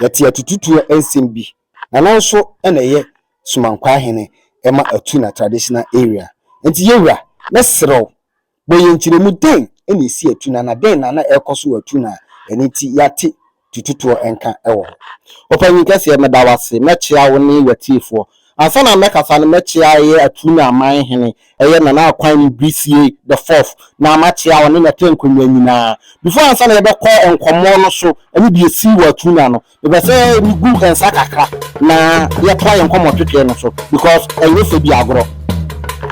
Yɛte atututuo nsɛm bi na nanso na ɛyɛ Somankwaa hene ɛma atu na traditional area nti yɛwura mɛsrɛ wo bɔ yɛn nkyerɛmu dɛn na ɛsi atu na na dɛn na na ɛrekɔ so wɔ atu na ɛno nti yɛate tututuo nka wɔ hɔ. Ɔpanyin kɛseɛ meda wo ase mɛkyea wo ne yɛtiefoɔ Ansa na mɛkasa no mɛkyea ɛyɛ Atrunya aman hene, ɛyɛ Nana Akwanyne Brisiye the fourth, na makyea ɔne n'atɛnkonwa nyinaa. Before ansa na yɛbɛkɔ nkɔmmɔ no so ɛne deɛ ɛsii wɔ Atrunya no, mepɛ sɛ megu nsa kakra na yɛtoa yɛn nkɔmmɔ twetwee no so because ɛnyɛ fɛ bi agorɔ.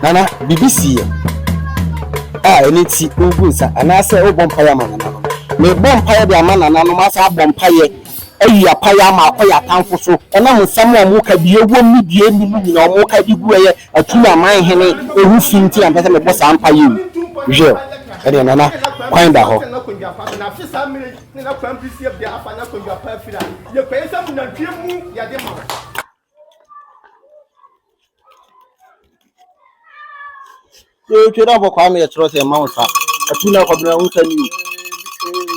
Nana, biribi siiɛ a ɛno nti woregu nsa anaasɛ worebɔ mpaeɛ ama nananom? Merebɔ mpaeɛ de ama nananom asan abɔ mpaeɛ ayi apaeɛ ama akɔ yɛn atamfo so ɛnam nsɛm a wɔka, deɛ ɛwom ne deɛ ɛnni mu nyinaa, wɔka de gu ɛyɛ atum aman hene ho fi nti na mepɛ sɛ mebɔ saa mpaeɛ yi. Jill, Ɛnneɛ Nana, kwan da hɔ. Yɛtwa dɛ ɔbɔ kwame yɛ kyerɛ sɛ mma wo sa atu na akɔbena wo nsa ni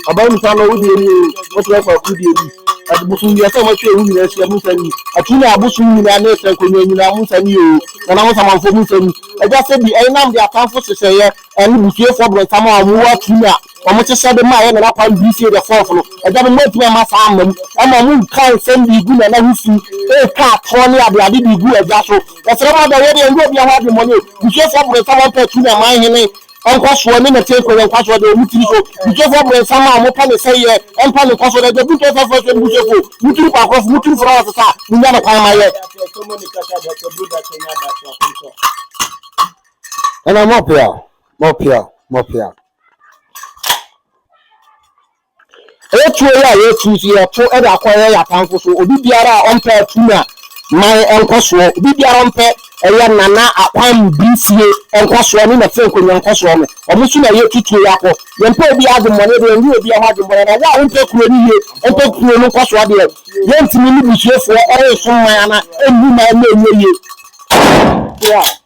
o ɔbaa mu sa na wodie ni o wɔkyerɛ fa ku die ni ɛde bosom deɛ sɛ wɔatwa ewu nyinaa ahyia mu nsa ni atu na abosom nyinaa ne ɛsɛ nkonnwa nyinaa mu nsa ni o nana mo samanfoɔ mu nsa ni ɛgya sɛ bi ɛnam de atamfo hyehyɛeɛ ɛne busuafoɔ borɔnsam a wɔwɔ atu na Wɔte sɛ de maa yɛn Nana Kwame Brifie the Fourth no. Agya no moantumi amma saa amma mu. Ɛma mo reka nsɛm de regu Nana ho fi, retwa atorɔ ne adeade de regu agya so. Yɛsrɛ mo ada wei deɛ ɛnyɛ obiara ho adwemmɔne o. Busuafoɔ Bronsam ampɛ atu ne aman hene nkwasoɔ ne Nate Nkonya nkwasoɔ deɛ wɔ mo tiri so. Busuafoɔ Bronsam a mopɛ ne sɛeɛ mpa ne nkwasoɔ da. Agya Buntu Asaase Fasuo ne busuafoɔ o, mo tiri kwakorɔfo, mo tiri furawa sesa a, mo nya no kwan ma yɛ. Nana more power, more power, more power. Ɛyɛ tuo yi a yɛatu nso yɛto de akɔyɛ yɛn atamfo so. Obi biara a ɔmpɛ atu na man nkɔsoɔ. Obi biara ɔmpɛ ɛyɛ nana akwan birifie nkɔsoɔ ne nɛte nkonwa nkɔsoɔ no. Wɔn so na yɛtu tuo yi akɔ. Yɛmpɛ obi adwemmɔne deɛ yɛnyi obi ho adwemmɔne na wo a wompɛ kuro no yie ɔmpɛ kuro no nkɔsoɔ deɛ yɛntumi ne busuafoɔ ɛrensom man ana ɛnni man na ɛnyɛ yie.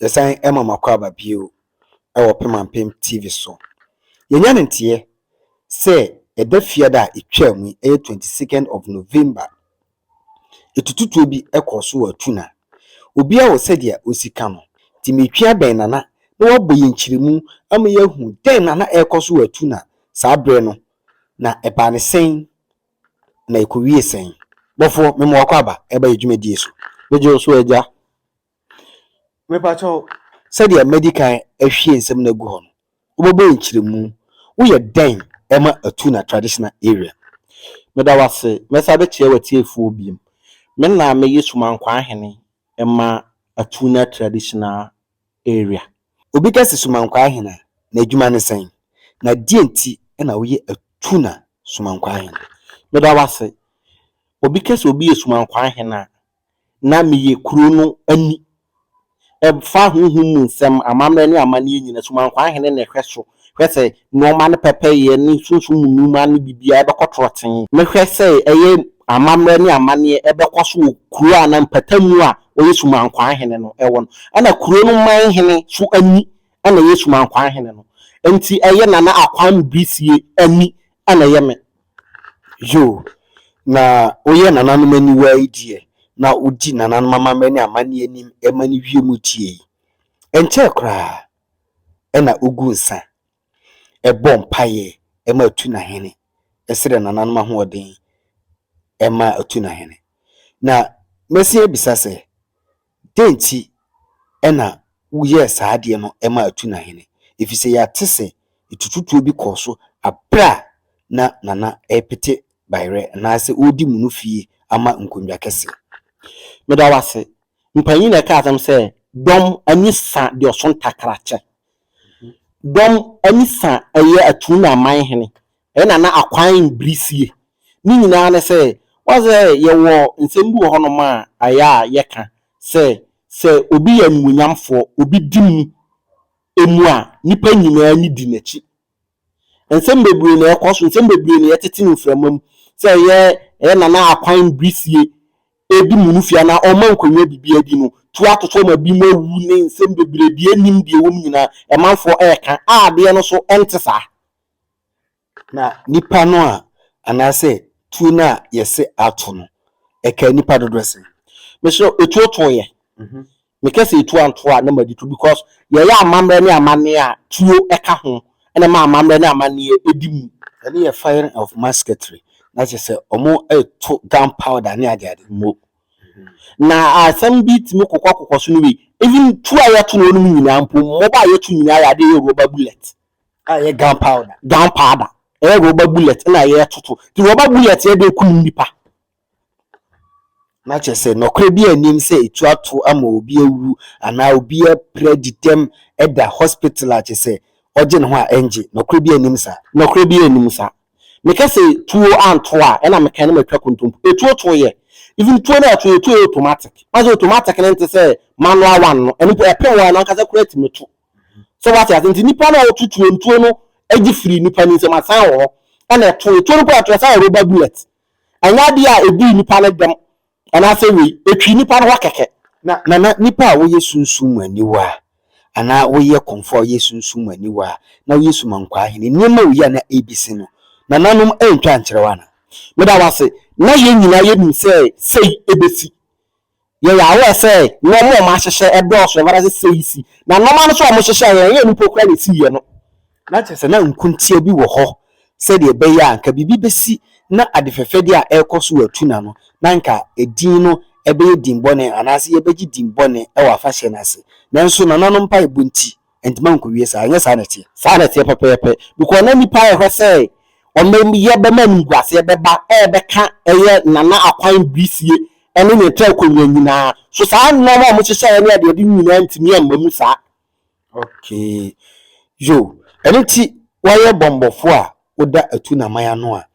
Yɛsan ma mo akwaaba bio wɔ Pemampem TV so. Yɛnya no nteɛ sɛ ɛda fiada a ɛtwaam yi, ɛyɛ twenty second of November, ɛtututuo bi kɔɔ so wɔ Atuna. Obiara wɔ sɛdeɛ ɔsi ka no, nti meretwea bɛn Nana na wabɔ yɛn nkyerɛmu ama yɛahu dɛn na na ɛrekɔ so wɔ Atuna saa berɛ no, na ɛbaa no sɛn na ɛkɔwiee sɛn. Bɔfoɔ, mema wo akwaaba ba yɛn dwumadie so. Megye wo so agya. Mepakyɛw, sɛdeɛ madi kan ahwie nsɛm no agu hɔ no, wobɛbɔ yɛn nkyerɛmu, woyɛ dɛn ma atu na traditional area? Meda wo ase, mɛsan abɛkyerɛ w'atiefoɔ biom, me na meyɛ Sumankwaa Ahene ma atu na traditional area. Obi ka sɛ Sumankwaa Ahene a, n'adwuma ne sɛn? Na deɛn nti na woyɛ atu na Sumankwaa Ahene? Meda wo ase, obi ka sɛ obi yɛ Sumankwaa Ahene a, na meyɛ kuro no ani. Ɛfa honhom mu nsɛm, amammerɛ ne amanneɛ nyinaa, Sumankwan Hene na ɛhwɛ so, hwɛ sɛ nnoɔma no pɛpɛyɛ ne sunsum mu nnoɔma no biribiara bɛkɔ trɔtee. Mehwɛ sɛ ɛyɛ amammerɛ ne amanneɛ ɛbɛkɔ so wɔ kuro a na mpatamu a ɔyɛ Sumankwan Hene no wɔ no. Ɛna kuro no man hene nso ani na ɛyɛ Sumankwan Hene no. Nti ɛyɛ Nana Akwame Brisie ani na ɛyɛ me. Yoo, na woyɛ nananom aniwaa yi deɛ, na wodi nananom amammerɛ ne amanneɛ anim ma no wie mu tie yi. Ɛnkyɛɛ koraa na ogu nsa, bɔ mpaeɛ ma atu n'ahene, srɛ nananom ahoɔden ma atu n'ahene. Na mɛsan abisa sɛ, Dɛn nti na woyɛɛ saa adeɛ no maa atu na hene? Ɛfiri sɛ yɛate sɛ tututuo bi kɔɔ so berɛ a na Nana repete bayerɛ anaasɛ ɔredi mono fie ama nkonnwa kɛseɛ. Meda wo ase. Mpanyin na ɛka asɛm sɛ, Dɔm ani sa deɛ ɔso ntakra kyɛ. Dɔm ani sa ɛyɛ Atuu na Aman hene Ɛna na akwan mbiri sie. Ne nyinaa ne sɛ, woahu sɛ yɛwɔ nsɛm bi wɔ hɔnom a ayɛ a yɛka sɛ, sɛ obi yɛ animuonyamfoɔ, obi di mu mu a, nnipa nyinaa ani di n'akyi. Nsɛm bebree na ɛkɔ so, nsɛm bebree na yɛtete no mframa mu, sɛ ɛyɛ ɛyɛ Nana Akwan Mbiri sie di mu no fie anaa ɔma nkonnwa biribiara di no, tu atoto ma binom awu ne nsɛm bebree, deɛ ɛnnim deɛ ɛwɔ mu nyinaa, ɛmanfoɔ ɛreka a adeɛ no so ɛnte saa. Na nipa no a anaasɛ tuo no a yɛse ato no, ɛkaa nipa dodoɔ sɛn? Mesrɛ wo, etuo too yɛ? Meka sɛ etuo antoo a na madi to because yɛyɛ amammerɛ ne amanneɛ a tuo ka ho na ɛma amammerɛ ne amanneɛ di mu. Ɛno yɛ firing of musketry na kyerɛ sɛ wɔreto gun powder ne ade ade. Mo. Na asɛm bi tumi kokɔ kokɔ so ne wei, even tuo a yɛto no hɔnom nyinaa mpo, mmoba a yɛto nyinaa yɛ adeɛ a ɛyɛ rubber bullet. a ɛyɛ gun powder gun powder ɛyɛ rɔba bullet na ɛyɛ toto ti rɔba bullet yɛ de kum nipa na kyerɛ sɛ nɔkorɛ bi anim sɛ etu ato ama obi awu anaa obi apira didɛm ɛda hospital a kyerɛ sɛ ɔgye ne ho a ɛngye nɔkorɛ bi anim saa. Nɔkorɛ bi anim saa meka sɛ tuo anto a ɛna meka na matwa kontompo etuo to yɛ even tuo na ɛto yɛ tuo yɛ automatic maze automatic no nte sɛ manual one no ɛno mpo ɛpem wo ara no ankasa koraa tumi to So wate ase? Nti nipa no a ɔto tuo ntuo no gye firi nipa no nsam asan wɔ hɔ ɛna ɛto etuo no kɔ ɛto ɛsan yɛ rubber bullet. Ɛnyɛ adeɛ a edii nipa no dɛm anaasɛ wei, etwii nipa no hɔ kɛkɛ. Na nana nipa a woyɛ sunsum mu aniwa a anaa woyɛ kɔmfoɔ a woyɛ sunsum mu aniwa a na woyɛ sumankwaa hene nneɛma a woyɛ a na ebisi no nananom antwa ankyerɛ wo anaa? Meda wo ase na yɛn nyinaa yɛnim sɛ sei ebesi. Yɛyɛ aware sɛ nnoɔma a wɔahyehyɛ dɔɔso, ɛwɔ ase seisi, na nnoɔma no nso a wɔhyehyɛeɛ no, ɛnyɛ nnipa koraa na ɛsiiɛ no. Na kyerɛ sɛ na nkontia bi wɔ hɔ sɛdeɛ ɛbɛyɛ a anka biribi bɛsi na ade fɛfɛdeɛ a ɛrekɔ so wɔ Atuna no, na anka edin no bɛyɛ din bɔne anaasɛ yɛbɛgye din bɔne wɔ afahyɛ no ase. Nanso nananom mpaebɔ nti, Enti mankowie saa. Ɛnyɛ saa na ɛteɛ? Saa na ɛteɛ pɛpɛɛpɛ. Because na nnipa rehwɛ sɛ wɔbɛyɛ bɛma animguaseɛ bɛba rebɛka ɛyɛ Nana Akwan Brisie ne ne Tɛɛkonnwa nyinaa. So saa nnoɔma a wɔhyehyɛeɛ ne adeade nyinaa ntumi amma mu saa? Okay. Yo. Ɛno nti wɔyɛ bɔmmɔfoɔ a woda atunaman ano a,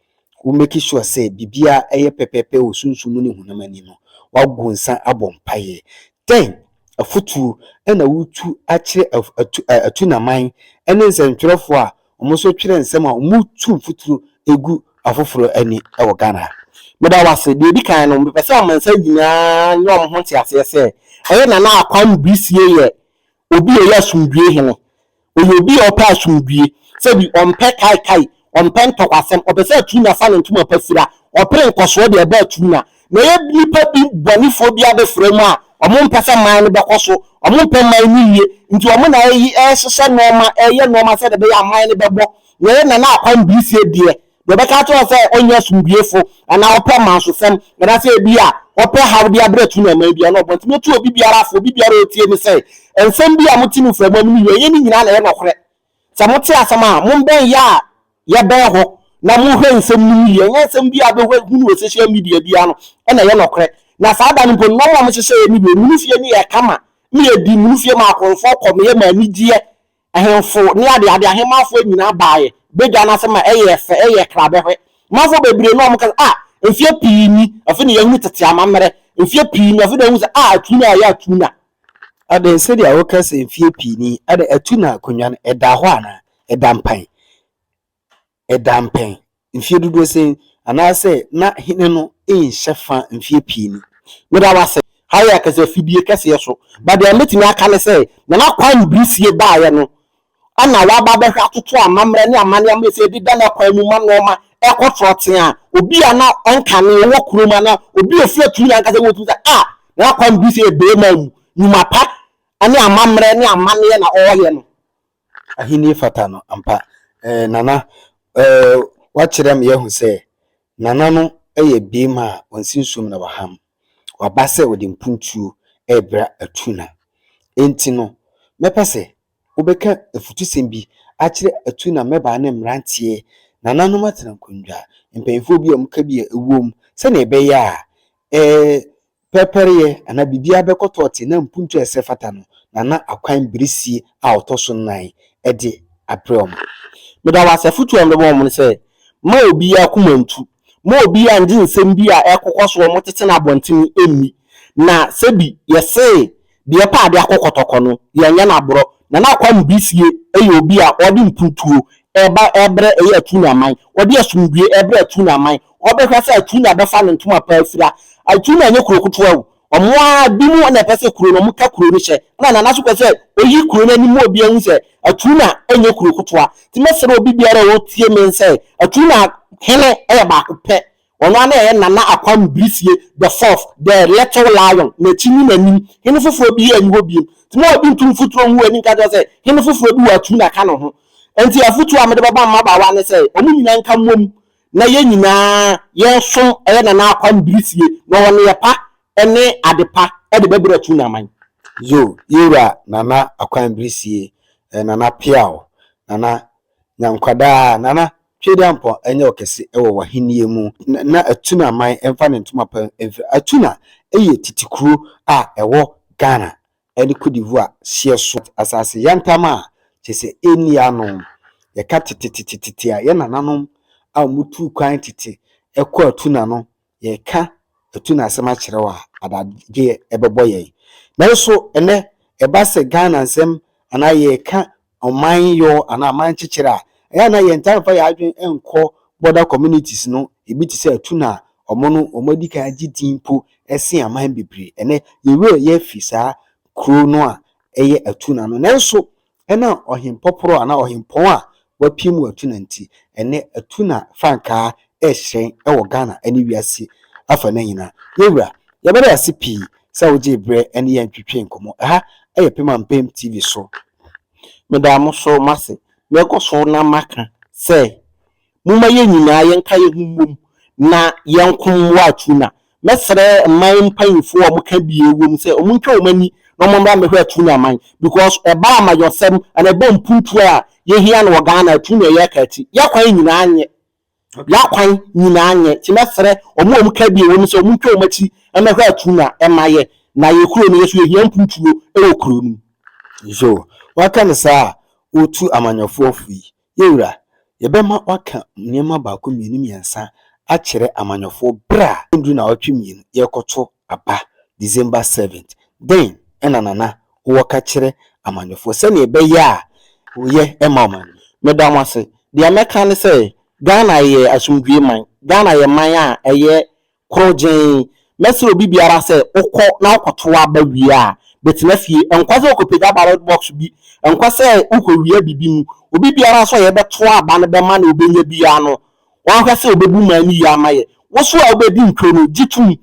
wo make sure sɛ biribiara yɛ pɛpɛɛpɛ wɔ sunsum mu ne honam ani no, woago nsa abɔ mpaeɛ. Dɛn afotuo na woretu akyerɛ atu atunaman ne nsɛntwerɛfoɔ a wɔn nso twerɛ nsɛm a wɔretu mfuturo gu afoforɔ ani wɔ Ghana ha? Meda wo ase. Deɛ ɛdi kan no, mepɛ sɛ amansan nyinaa nya wɔn ho nteaseɛ sɛ ɛyɛ Nana Akwam Brisie yɛ Obi a ɔyɛ asomdwoe hene. Ɔyɛ obi a ɔpɛ asomdwoe. Sɛ bi, ɔmpɛ kaekae, ɔmpɛ ntɔkwasɛm, ɔpɛ sɛ atuu na sa ne ntoma pa sira. Ɔpere nkɔsoɔ de ɛba atuu na. Na ɛyɛ nnipa bi bɔnefoɔ bi abɛfra mu a, wɔmpɛ sɛ man no bɛkɔ so, wɔmpɛ man no yie, nti wɔn na ɛyi ɛrehyehyɛ nnoɔma, ɛreyɛ nnoɔma sɛdeɛ ɛbɛyɛ a man no bɛbɔ. Na ɛyɛ Nana Akwam Brisie deɛ. Deɛ ɔbɛka akyerɛ wo sɛ ɔnyɛ asomdwoefo anaa ɔpɛ mansofam anaasɛ ebia ɔpɛ haw de abrɛ tu na ɛman biara no, ɔbɔntene atu obi biara fo, obi biara a ɔretie no sɛ, nsɛm bi a mote no firi amam no yɛ ɛnyɛ ne nyinaa na ɛyɛ nɔkorɛ. Sɛ mote asɛm a, mommɛn yɛ a yɛbɛn hɔ na monhwɛ nsɛm no mu yie. Ɛnyɛ nsɛm biara a wobɛhwɛ hunu wɔ social media biara no na ɛyɛ nɔkorɛ. Na saa da no mpo no, na wɔn a wɔhyehyɛeɛ no deɛ, munufie no yɛ kama, meyɛ di, munufie maa akorɔmfoɔ kɔ, meyɛ maa anigyeɛ. Ahemfo ne adeade ahemmanfoɔ nyinaa baeɛ badwa no ase ma ɛyɛɛ fɛ, ɛyɛɛ krabɛhwɛ. Manfoɔ bebree na wɔka sɛ, Ah! Mfeɛ pii ni, afei na yɛahunu tete amammerɛ. Mfeɛ pii ni, afei na yɛahu sɛ, Ah! Atuna a ɛyɛ Atuna! Ɛnde, sɛdeɛ woka sɛ mfeɛ pii ni, ɛnde Atuna akonnwa no, ɛda hɔ anaa? Ɛda mpan. ɛda mpɛn mfeɛ dodoɔ sɛn anaasɛ na hene no nhyɛ fa mfeɛ pii ni. Meda wo ase. Ha yɛ kasa fidie kɛseɛ so, but deɛ mɛtumi aka ne sɛ, Nana Kwame Brisie baeɛ no, ɛna waba abɛhwɛ atoto amammerɛ ne amanneɛ ammerɛ sɛ yɛde da no akwan mu ma nnoɔma ɛkɔ trɔtee a, obi a na ɔnkane, ɔwɔ kurom anaa obi a ɔfiri akyiri ankasa wotumi sɛ, ah, Nana Kwame Brisie yɛ barima a ɔwu, nnwuma pa ne amammerɛ ne amanneɛ na ɔreyɛ no. Ahenni fata no ampa. Eh, Nana, eh, woakyerɛ me ahu sɛ Nana no yɛ beema a ɔnsi nsuom na waham. Waba sɛ ɔde mpuntuo rebra Atuna. Enti no, mɛpɛ sɛ wobɛka afutusɛm bi akyerɛ Atuna mmabaa ne mmeranteɛ, nananom atenankonnwa, mpanimfoɔ bi a wɔka bi a ɛwom, sɛdeɛ ɛbɛyɛ a, eh, Pɛrpɛryɛ anaa biribiara bɛkɔtɔ te na mpuntu a ɛsɛ fata no na na akwan birisie a ɔtɔ so nnan de abrɛ wɔn. Meda wɔn ase. Afotu a mebɛma wɔn ne sɛ, Mma obiara akoma ntu. Mma obiara nngye nsɛm bi a ɛrekokɔ so a wɔtete no abɔntene nni. Na sɛbi yɛse Deɛ ɔpɛ adeɛ akɔ kɔtɔkɔ no, yɛnyɛ no aborɔ. Nana Akwam Bisie yɛ obi a ɔde mpuntuo reba rebrɛ ɛyɛ Atunya aman. Ɔde asomdwoeɛ rebrɛ Atunya aman. Ɔbɛhwɛ sɛ Atunya bɛfa ne ntoma pa afira. Atunya nyɛ kuro ketewa o. Wɔn ara binom na ɛpɛ sɛ kuro no, wɔka kuro no hyɛ. Ɛna Nana nso pɛ sɛ ɔyi kuro no anim ma obiara hu sɛ Atunya nyɛ kuro ketewa. Nti mɛsrɛ obi biara a ɔretie me sɛ Atunya hene yɛ baako pɛ Ɔno ara na ɛyɛ Nana Akwam Brisie the Fourth, the Little Lion, n'akyi ne n'anim. Hene foforɔ biara nni hɔ bio. Nti mo a obi ntu mfuturo ngu ani nka nkyerɛ sɛ hene foforɔ bi wɔ atuu na ɛka ne ho. Nti afotuo a mede bɛma mmabaawa ne sɛ wɔn nyinaa nka mmom na yɛn nyinaa yɛnsom ɛyɛ Nana Akwam Brisie na ɔwɔ nneyɛ pa ne ade pa de bɛbrɛ atuu na aman. Yoo, yɛn wura Nana Akwam Brisie, Nana Peaw, Nana Nya nkwa daa! Nana, Tweduampɔn nyɛ ɔkɛse wɔ w'ahenni mu. Na Atuna man mfa ne ntoma pa mfiri. Atuna yɛ tete kuro a ɛwɔ Ghana ne Cote d'Ivoire hyeɛ so. Asase yantam a kyerɛ sɛ ɛnni ano. Yɛka tetetetete a, yɛn nananom a wɔtuu kwan tete kɔɔ Atuna no yɛka atu no asɛm akyerɛ wo a, adagyeɛ ɛbɛbɔ yɛn. Nanso ɛnɛ, ɛba sɛ Ghana nsɛm anaa yɛreka ɔman yɔ anaa aman kyekyere a, ɛyɛ a na yɛntaa mfa yɛn adwene nkɔ border communities no, ebi te sɛ atu no a, wɔn no wɔn adi kan agye din mpo sen aman bebree. Ɛnɛ, yɛn werɛ yɛafi saa kuro no a ɛyɛ atu no ano. Nanso Ɛnam ɔhempɔporɔ anaa ɔhempɔn a wɔapiam wɔ Atuna nti, ɛnnɛ Atuna frankaa rehyerɛn wɔ Ghana ne wiase afanan nyinaa. Yɛn Wura, yɛbɛda wo ase pii sɛ wogyee berɛ ne yɛn twetwee nkɔmmɔ. Ɛha yɛ Pem Ampem TV so. Meda mo nso mo ase. Mɛkɔ so na maka sɛ Momma yɛn nyinaa yɛnka yɛn ho mmom na yɛnko mmoa Atuna. Mɛsrɛ mman mpanyimfo a wɔka bie wom sɛ wɔntwa wɔn ani na wɔmmra mmɛhwɛ Atuna man because ɛba amanyɔsɛm anaa ɛba mpuntuo a yɛhia no wɔ Ghana Atuna yɛ ka ti. Yɛn kwan nyinaa nyɛ. Yɛn kwan nyinaa nyɛ. Nti mɛsrɛ wɔn a wɔka bie wom sɛ wɔntwa wɔn akyi mmɛhwɛ Atuna ma yɛ na yɛ kuro no yɛ nso yɛhia mpuntuo wɔ kuro no mu. So woaka no saa a wotu amanyɔfoɔ fo yi Yɛn Wura, yɛbɛma woaka nneɛma baako mmienu mmiɛnsa akyerɛ amanyɔfoɔ berɛ a ɛnnduru nnawɔtwe mmienu yɛrekɔto aba December seventh. Dɛn na Nana wowɔ ka kyerɛ amanyɔfoɔ sɛdeɛ ɛbɛyɛ a woyɛ ɛma wɔn no? Meda mo ase. Deɛ mɛka ne sɛ Ghana yɛ asomdwoeɛ man. Ghana yɛ man a ɛyɛ Korɔgyenn, Mɛsrɛ obi biara sɛ wokɔ na wokɔtow aba wie a, bɛtena fie. Ɛnkɔ sɛ wokɔpagya ballot box bi, ɛnkɔ sɛ wokɔwia biribi mu. Obi biara nso a yɛbɛtow aba no bɛma nea obenya biara no, wahwɛ sɛ obebu man no yie ama yɛn. Wo nso a wobedi ntwom no, gye tom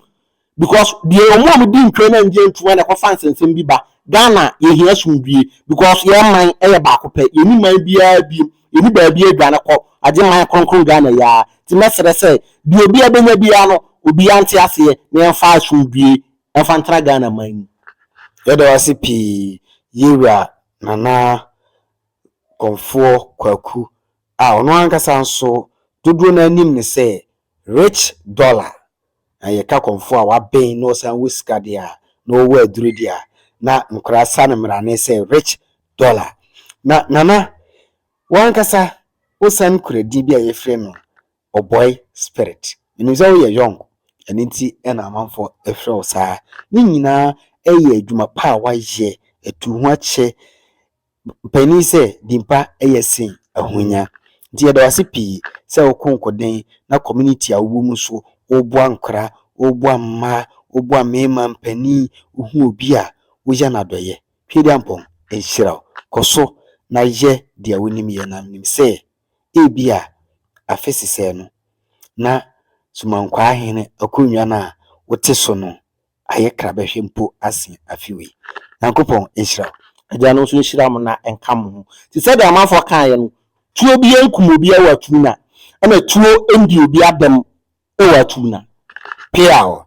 because deɛ wɔn a wɔdi ntwom no anngye antom a na ɛkɔfa nsɛnsɛm bi ba. Ghana, yɛhia asomdwoe because yɛn man yɛ baako pɛ. Yɛnni man biara bio. Yɛnni baabi aduane kɔ, agye man kronkron Ghana yi ara, nti mɛsrɛ sɛ deɛ obiara bɛnya biara no, obiara nte aseɛ na yɛmfa asomdwoeɛ mfa ntena Ghana man mu. Yɛda wo ase pii Yewura Nana Komfoɔ Kwaku a ɔno ankasa nso dodoɔ no ara nim no sɛ Rich Dollar. Na yɛ ka kɔmfoɔ a waben na ɔsan wɔ sika deɛ a, na ɔwɔ aduro deɛ a, na nkwadaa sa no mmarane sɛ rich dollar. Na Nana, wo ankasa wo san kura din bi a yɛfrɛ no Ɔbɔe spirit. Menim sɛ wo yɛ young, ɛno nti na amanfoɔ frɛ wo saa. Ne nyinaa yɛ adwuma pa a woayɛ, atu ho akyɛ Mpanin sɛ dimpa yɛ sen ahonya. Nti yɛda wo ase pii sɛ wo konkoden na community a wowɔ mu so woboa nkora, woboa mma, woboa mmarima mpanin, wohu obi a woya no adɔeɛ. Tweediampɔn nhyira wo. Kɔ so na yɛ deɛ wonim yɛ na menim sɛ ebia afe sesɛɛ no na Sumankwaa hene akonnwa no a wote so no Ayɛ kra bɛhwɛ mpo asen afe wei. Nyankopɔn nhyira wo. Agya no nso nhyira mo na nka mo ho. Te sɛ deɛ amanfoɔ kaeɛ no, tuo biara nkum obiara wɔ Atuna, ɛna tuo ndi obiara dɛm wɔ Atuna. Peaw!